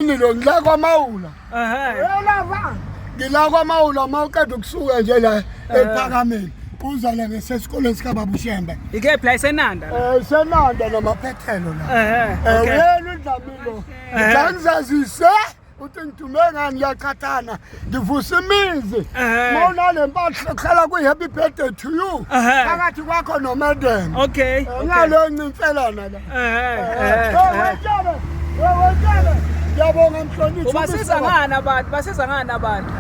Yini lo ngila kwamawula. Ehhe. Yelava. Ngila kwamawula uma uqeda ukusuka nje la ephakameni. Uza la ngesesikoleni sikababa uShembe. Ike play senanda. Eh senanda namaphethelo la. Ehhe. Eh, okay. Uyena uDlamilo. Ngizazise uthi ngithume ngani liyaqhathana. ngivusa imizi Ehhe. ma unale mpahla kuhlala kwi-happy birthday to you Ehhe. phakathi kwakho nomadam okay okay. ngaleyo ncinselana la Eh, eh, eh. wetshele wetshele ngiyabonga mhloniphi ubasiza ngani abantu basiza ngani abantu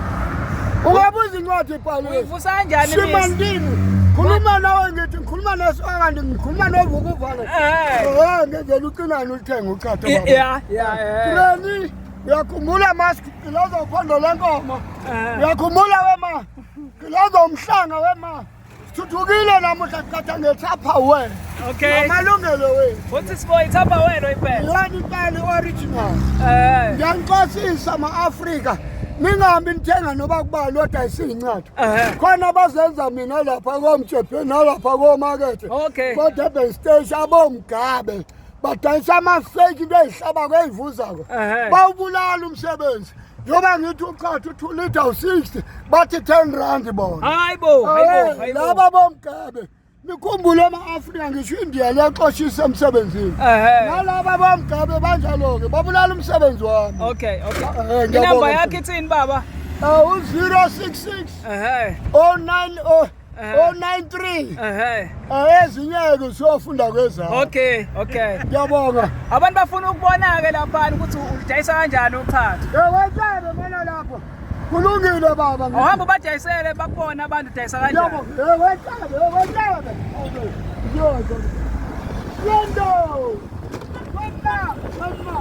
ungabe uzincwadi ibhaliwe uyivusa kanjani imizi simandini khuluma nawe ngithi ngikhuluma nesokandi ngikhuluma novukuvala Eh. ngenzela ucinani ulithenge uchatha I- ya ya eh. Granny, Uyakhumbula mask kilozo uphondo lenkomo. Eh. Uyakhumbula wema. Kilozo umhlanga wema. Thuthukile namuhla kuthatha ngethapha we. Okay. Amalungelo we. What is for ithapha wena impela? Yona impela original. Eh. Ngiyanixosisa ama Africa. ningahambi nithenga noba kubali odayisa iy'ncwadi khona bazenza mina lapha komjebhe nalapha komakethe kodurban stage abomgabe badanisa amafeki into ezihlabako ezivuzako bawubulala umsebenzi njengoba ngithi uqatha u-two liter u-sixty bathi ten rand bona hayi bo laba bomgabe nikhumbule ama-afrika ngisho indiya liyaxoshisa emsebenzini nalaba bomgabe banjalo-ke babulala umsebenzi wami okay okay inamba yakhe ithini baba u-zero six six o-nine o o93 ehe ayezinyeke usiyofunda kwezakho okay okay ngiyabonga abantu bafuna ukubona-ke laphana ukuthi udayisa kanjani uchathi ewetshebe mona lapho kulungile baba ohamba ubadayisele bakubona abantu udayisa kanjani ewetshebe ewetshebe yozo yendo wena wena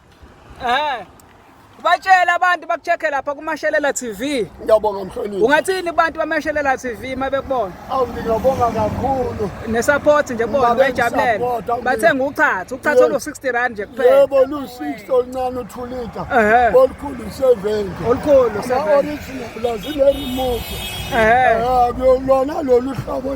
Eh. Batshela abantu bakucheck lapha kuMashelela TV. Ngiyabonga mhloniphi. Ungathini abantu baMashelela TV mabekubona? Awu ngiyabonga kakhulu. Ne support nje bona bejabulele. Bathenga uchatha, uchatha olu 60 rand nje kuphela. Yebo lu 60 oluncane uthulita. Olukhulu 70. Olukhulu 70. Original lazile remote. Eh. Lona lolu hlobo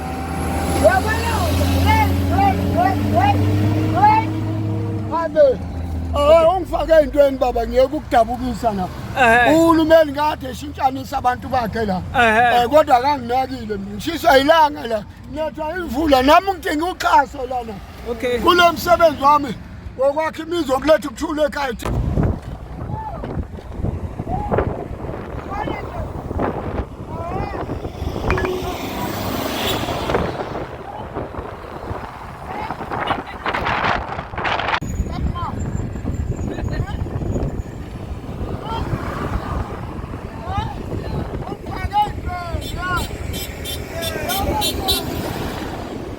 ungifake ey'ntweni baba ngiyeke ukudabukisa la uhulumeni kade eshintshanisa abantu bakhe la um kodwa kanginakile mina ngishiswa yilanga la nethwa imvula nami ngidinga uxhaso lana okay kulo msebenzi wami wokwakha imizi wokuletha ukuthula ekhaya